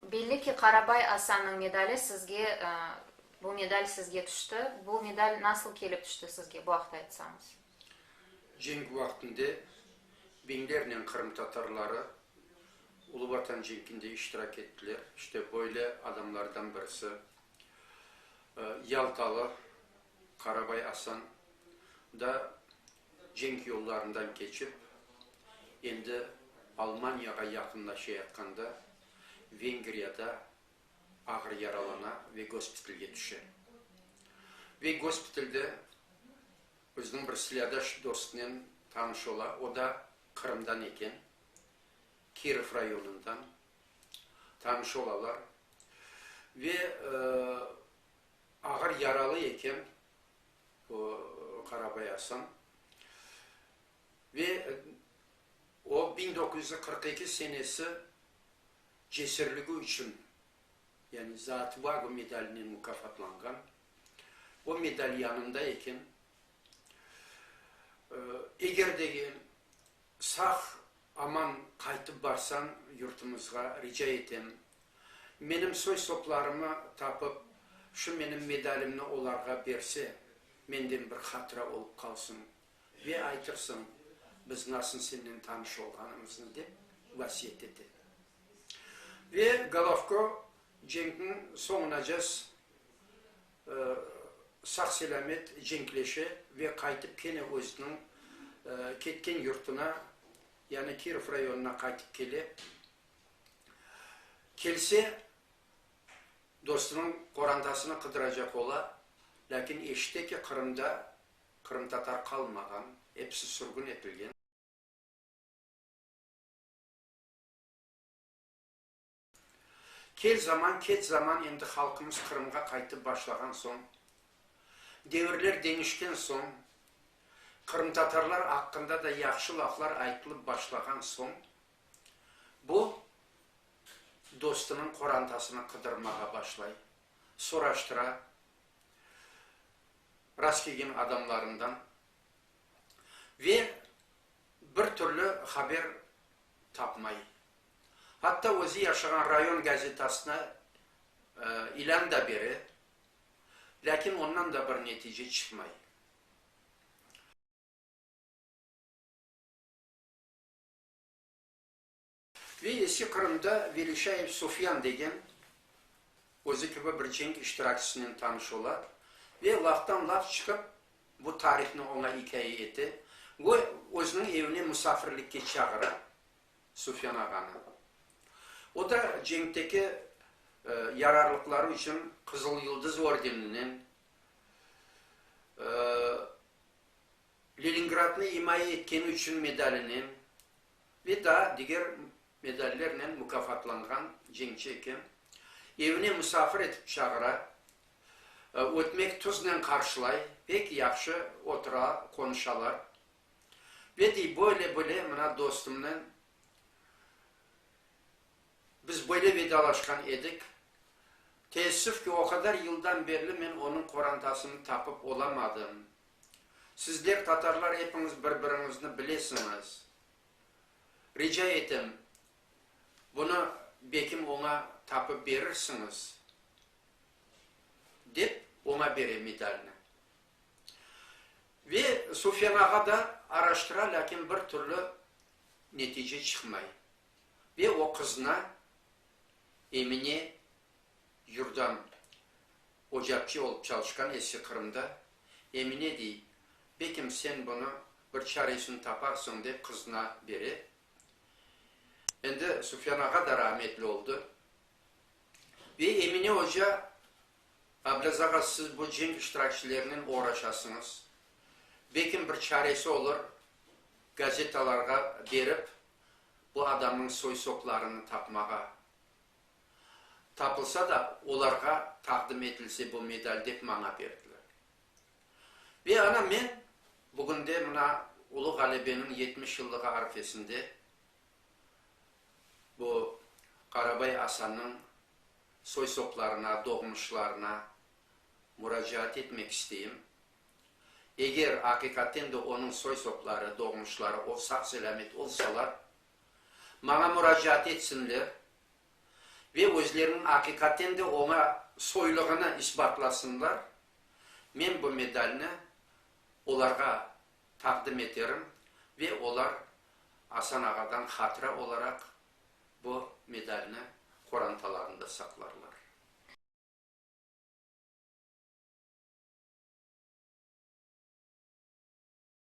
Belli ki, Qarabay Asannıñ medali sizge, bu medal sizge tüşti. Bu medal nasıl kelip tüşti sizge, bu aqta aytsañız? Cenk vaqtında biñlernen qırımtatarları Ulu Vatan cenkinde iştirak ettiler. İşte böyle adamlardan birisi, yaltalı Qarabay Asan da cenk yollarından keçip, endi Almaniyağa yaqınlaşayatqanda, Vengriyada ağır yaralana ve gospitalge tüşe. Ve gospitalde özüniñ bir silâdaş dostnen tanış ola, o da Qırımdan eken, Kirov rayonından. Tanış olalar ve ağır yaralı eken bu Qarabay Asan. Ve o, biñ doquz yüz qırq eki senesi cesürligi içün, yani Za otvagu medalinen mukafatlanğan. O medal yanında eken. Eger de ki, sağ, aman qaytıp barsañ yurtumızğa, rica etem, menim soy-soplarımı tapıp, şu menim medalimni olarğa berse, menden bir hatıra olıp qalsın. Ve aytırsıñ, biz nasıl senden tanış olğanımıznı, dep vasiyet ete. Ve Golovko cenkniñ soñunacas sağ-selâmet cenkleşe ve qaytıp kene özüniñ ketken yurtuna, yani Kirov rayonına qaytıp kele. Kelse, dostunıñ qorantasını qıdıracaq ola, lâkin eşite ki, Qırımda Qırımtatar qalmağan, episi sürgün etilgen. Kel zaman, keç zaman endi halqımız Qırımğa qaytıp başlağan soñ, devirler deñişken soñ, qırımtatarlar aqqında da yahşı laflar aytılıp başlağan soñ, bu, dostunıñ qorantasını qıdırmağa başlay, soraştıra. rastkelgen adamlarından ve bir türlü haber tapmay. Hatta özü yaşağan rayon gazetasına ilân da bere, lâkin ondan da bir netice çıqmay. Ve Eski Qırımda Velişayev Sufyan degen, özü kibi bir cenk iştirakçisinen tanış ola ve laftan-laf çıqıp, bu tarihni oña ikâye ete ve özüniñ evine musafirlikke çağıra Sufyan ağanı. O da cenkteki yararlıqları içün Qızıl Yıldız ordeninen, Leningradnı imaye etkeni içün medalinen ve daa diger medallernen mukâfatlanğan cenkçi eken. Evine musafir etip çağıra, ötmek tuznen qarşılay, pek yahşı otura, qonuşalar. Ve dey, böyle-böyle mına dostumnen biz böyle vedalaşqan edik. Teessüf ki, o qadar yıldan berli men onıñ qorantasını tapıp olamadım, Sizler, tatarlar, epiñiz bir-biriñizni bilesiñiz. Rica etem, bunı bekim oña tapıp berirsiñiz, dep, oña bere medalni. Ve Sufyan ağa da araştıra, lâkin bir türlü netice çıqmay. Ve o qıznı Emine Yurdan, ocapçı olıp çalışqan eski Qırımda, Emine dey, bekim sen bunı bir çaresini taparsıñ, dep qızına bere. Endi Sufyan ağa da rahmetli oldı. Ve Emine oca, Ablaz ağa, siz bu cenk iştirakçilerinen oğraşasıñız, bekim bir çaresi olur, gazetalarğa berip, bu adamnıñ soy-soplarını tapmağa, Tapılsa da, olarğa taqdim etilse bu medal dep maña berdiler. Ve ana men bugünde mına Ulu ğalebeniñ yetmiş yıllığı arfesinde bu Qarabay Asannıñ soy-soplarına, doğmuşlarına muracaat etmek isteyim. Eger aqiqaten de onıñ soy-sopları, doğmuşları o sağ-selâmet olsalar, maña muracaat etsinler ve özleriniñ aqiqaten de oña soylığını isbatlasınlar, men bu medalni olarğa taqdim eterim ve olar Asan ağadan hatıra olaraq bu medalni qorantalarında saqlarlar.